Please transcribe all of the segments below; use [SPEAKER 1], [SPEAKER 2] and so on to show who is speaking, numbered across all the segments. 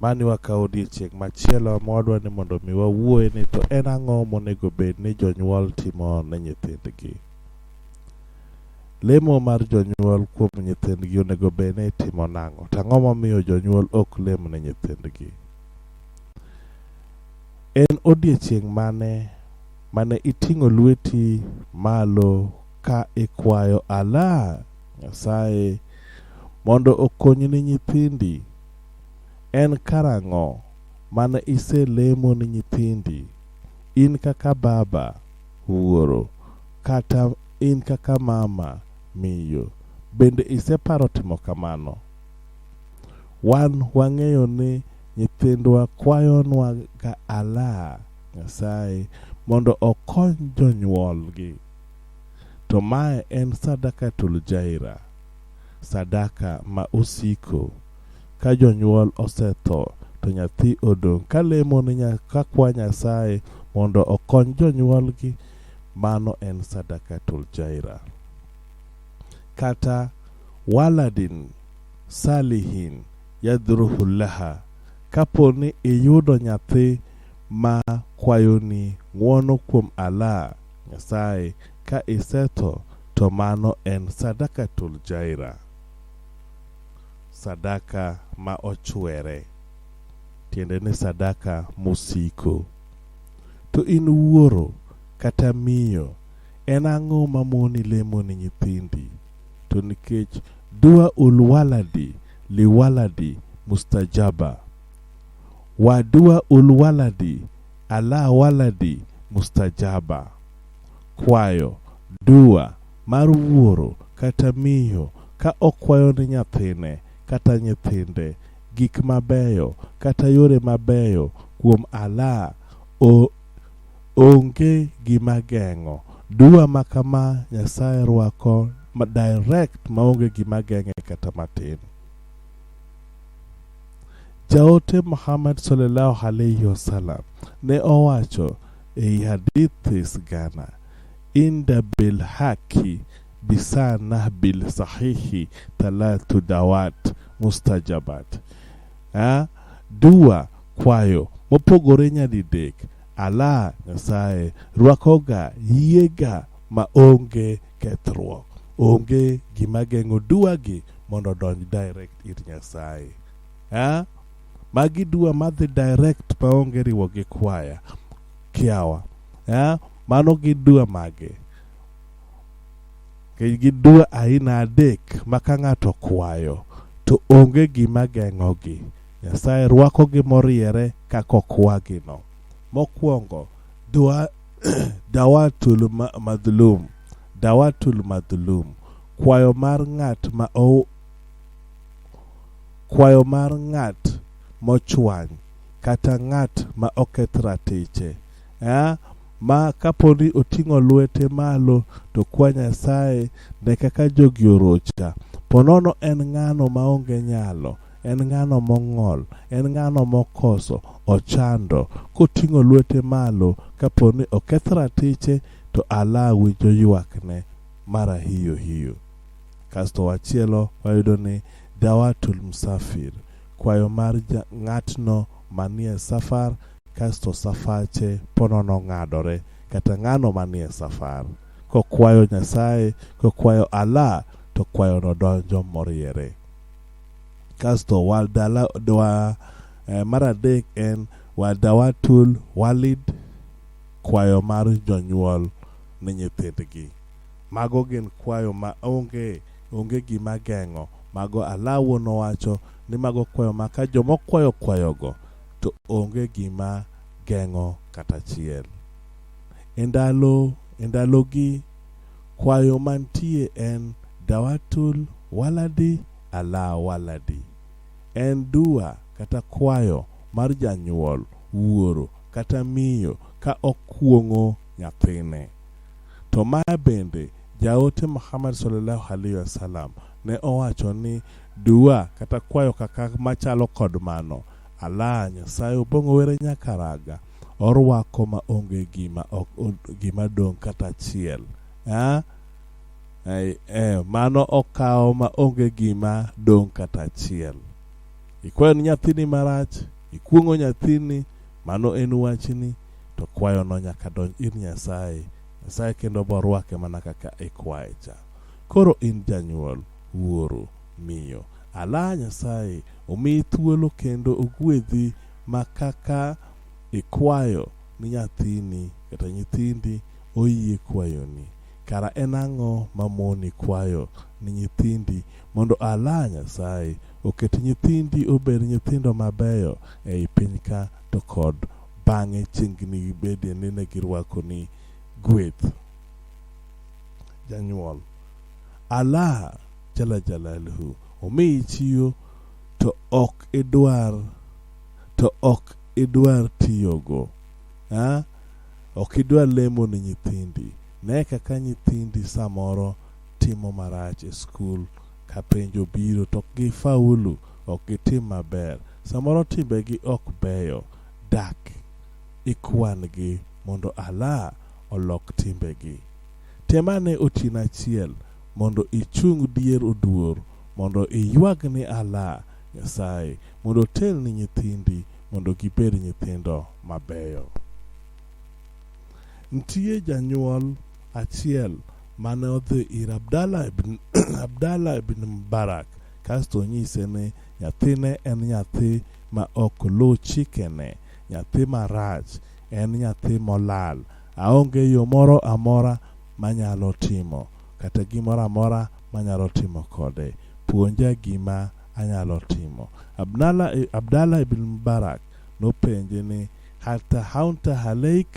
[SPEAKER 1] Mani wakawo odiechieng' machielo ma wadwa ni mondo mi wawuoye ni to en ang'o monego bed ni jonyuol timo ne nyithindgi. Lemo mar jonyuol kuom nyithindgi onego bed ni itimo nang'o? To ang'o momiyo jonyuol ok lem ne nyithindgi? En odiechieng' mane mane iting'o lweti malo ka ikwayo Allah Nyasaye mondo okonyi ni nyithindi En karang'o mane iselemo ni nyithindi, in kaka baba, wuoro, kata in kaka mama, miyo? Bende iseparo timo kamano? Wan wang'eyo ni nyithindwa kwayonwaga Allah, Nyasaye, mondo okony jonyuolgi. To mae en sadakatul jaira, sadaka ma osiko. ka jonyuol osetho to nyathi odong' ka lemo ni nya- ka kwa Nyasaye mondo okony jonyuolgi, mano en sadakatul jaira. Kata waladin salihin yadhruhu laha, kapo ni iyudo nyathi ma kwayoni ng'wono kuom Allah, Nyasaye, ka isetho to mano en sadakatul jaira. sadaka ma ochwere tiende ni sadaka mosiko to in wuoro kata miyo en ang'o mamoni lemo ni nyithindi to nikech dua ulwaladi liwaladi mustajaba wa dua ulwaladi ala waladi mustajaba kwayo dua mar wuoro kata miyo ka okwayo ne nyathine kata nyithinde gik mabeyo kata yore mabeyo kuom Allah, onge gima geng'o. Dua ma kama Nyasaye rwako direct maonge gima geng'e kata matin. Jaote Muhammad sallallahu alaihi wasallam ne owacho Ei hadithi sigana inda bil haki bisanah bil sahihi talatu dawat mustajabat ha? dua kwayo mopogore nyadidek ala nyasaye rwakoga yiega ma onge kethruok onge gima geng'o duagi mondo odonj direct ir nyasaye ha? magi dua madhi direct maonge riwo gi kwaya kiawa eh? mano gi dua mage Gi- gi dua aina adek ma ka ng'ato kwayo to onge gima geng'ogi nyasaye rwakogi moriere kaka okwagino mokwongo dua dawatul ma- madhulum dawatul madhulum kwayo mar ng'at ma o- Kwayo mar ng'at mochwany kata ng'at ma oketh ratiche eh? ma kaponi oting'o lwete malo to kwa Nyasaye ne kaka jogi orocha. Ponono en ng'ano maonge nyalo, en ng'ano mong'ol, en ng'ano mokoso, ochando, koting'o lwete malo kaponi oketh ratiche to alawi joywakne mara hiyo hiyo. Kasto wachielo wayudo ni Dawatul Musafir, kwayo mar ja- ng'atno manie safar, kasto safache ponono ng'adore, kata ng'ano manie safar. Kokwayo Nyasaye, kokwayo Allah, to kwayono donjo moriere. Kasto waldala, dwa, eh, mar adek en wadawatul walid, kwayo mar jonyuol ne nyithindgi. Mago gin kwayo ma onge onge gima geng'o mago alawo nowacho ni mago kwayo ma ka joma okwayo kwayogo to onge gima geng'o kata achiel. E ndalo e ndalogi kwayo mantie en dawatul waladi ala waladi. En dua kata kwayo mar janyuol, wuoro kata miyo ka okuong'o nyathine. To ma bende jaote Muhammad sallallahu alaihi wasallam ne owacho ni dua kata kwayo kaka machalo kod mano Allah Nyasaye obong'o were nyakaraga orwako ma onge gima ok gima dong' kata achiel eh? Eh, mano okawo ma onge gima dong' kata achiel ikwayo ni nyathini marach ikuong'o nyathini mano en wachni to kwayono nyaka donj ir Nyasaye. Nyasaye kendo borwake mana kaka ikwaye cha. Koro in janyuol, wuoro, miyo, ala Nyasaye omiyi thuolo kendo ogwedhi ma kaka ikwayo ni nyathini kata nyithindi oyie kwayoni. Kara en ang'o mamoni kwayo ni nyithindi mondo ala Nyasaye oket nyithindi obed nyithindo mabeyo ei pinyka to kod bang'e chieng' ginibedie ni ne girwakoni gweth janyuol Allah jala jalaluhu omiyi chiwo to ok idwar to ok idwar tiyogo ah? ok idwar lemo ne nyithindi ne kaka nyithindi samoro timo marach e skul ka penjo biro to ok gifaulu ok gitim maber samoro timbegi ok beyo dak ikwan-gi mondo Allah olok timbegi. Tem ane otieno achiel mondo ichung dier oduor mondo iywag ni Allah Nyasaye mondo otelni nyithindi mondo gibed nyithindo mabeyo. Nitie janyuol achiel mane odhi ir Abdallah ibn Mubarak kasto onyise ni nyathine en nyathi ma ok luw chikene nyathi marach en nyathi molal aonge yo moro amora manyalo timo kata gimoro amora manyalo timo kode puonja gima anyalo timo abdala, abdala ibn mubarak nopenje ni hata haunta haleik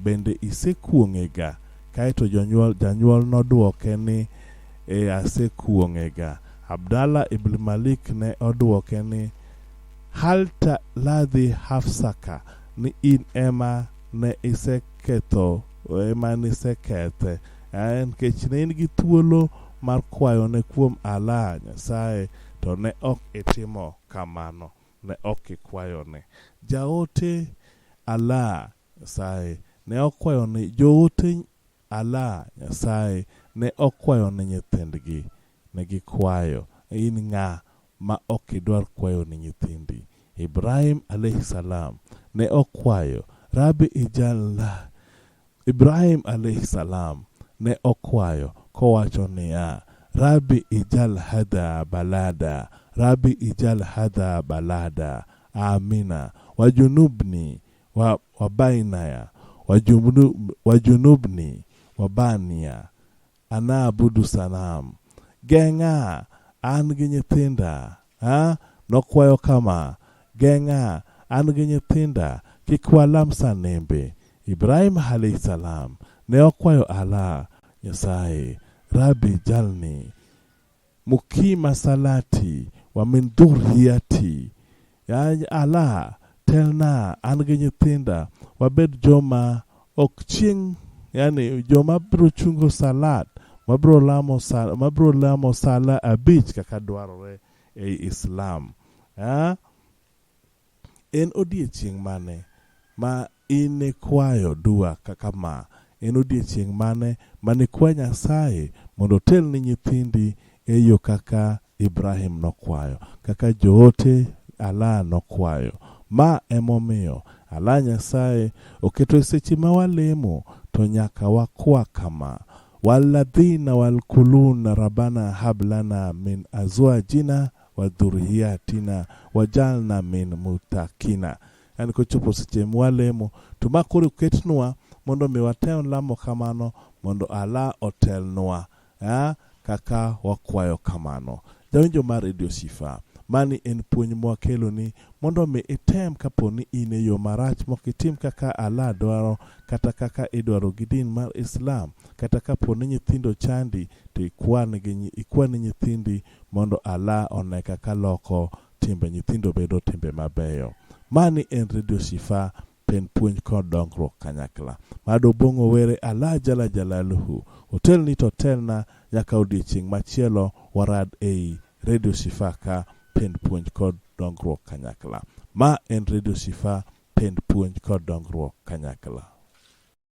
[SPEAKER 1] bende isekuong'ega kaeto jonyuol, janyuol nodwoke ni e asekuong'ega. Abdallah ibn Malik ne odwoke ni, Halta ladhi hafsaka ni in ema ne iseketho ema nisekethe eh, nikech ne in gi thuolo mar kwayo ne kuom Allah Nyasaye to ne ok itimo kamano ne ok ikwayo ne jaote Allah Nyasaye ne okwayo ne joote Ala, Nyasaye, ne okwayo ni nyithindgi. Ne gikwayo. In ng'a ma ok idwar kwayo ni nyithindi? Ibrahim alaihi salam ne okwayo, Rabbi ij'alna. Ibrahim alaihi salam ne okwayo kowacho niya, Rabbi ij'al hadha balada, Rabbi ij'al hadha balada, Amina, wajunubni wa, wa bainaya wa, junub, wa junubni wa bania ana abudu sanam geng'a an gi nyithinda ha? nokwayo kama geng'a an gi nyithinda kik walam sanembe ibrahim alayhi salam ne okwayo ala nyasaye rabi jalni Mukima salati wa min dhurriyati, Ya Allah, telna an gi nyithinda wabed joma ok chieng' yani joma biro chungo salat mabiro lamo sala, mabiro lamo sala abich kaka dwarore ei Islam. Ah, En odiechieng' mane ma inikwayo dua kaka ma? En odiechieng' mane ma nikwa Nyasaye mondo otel ni nyithindi e yo kaka Ibrahim nokwayo, kaka joote Allah nokwayo? Ma e momiyo Allah Nyasaye oketo e seche ma walemo to nyaka wakwa kama, Wal-ladhina wal-kuluna Rabbana hab lana min azwajina wa dhuriyatina wajalna min mutakina yani kochopo seche mwalemo to ma koro ketnwa mondo mi watem lamo kamano mondo ala otelnwa ya kaka wakwayo kamano jawinjo mar redio sifa mani en puonj mwakeloni mondo mi item kapo ni in e yo marach mok itim kaka ala dwaro kata kaka idwaro gi din mar islam kata kapo ni nyithindo chandi to ikwan gi nyi- ikwan nyithindi mondo ala one kaka loko timbe nyithindo bedo timbe mabeyo. Mani en Radio Shifa pen puonj kod dongruok kanyakla. Mado bong'o were ala jala jalaluhu. Otelni to telna nyaka odiechieng' machielo warad ei Radio Shifa ka pend puonj kod dongruok kanyakla. Ma en Radio Shifa pend puonj kod dongruok kanyakla.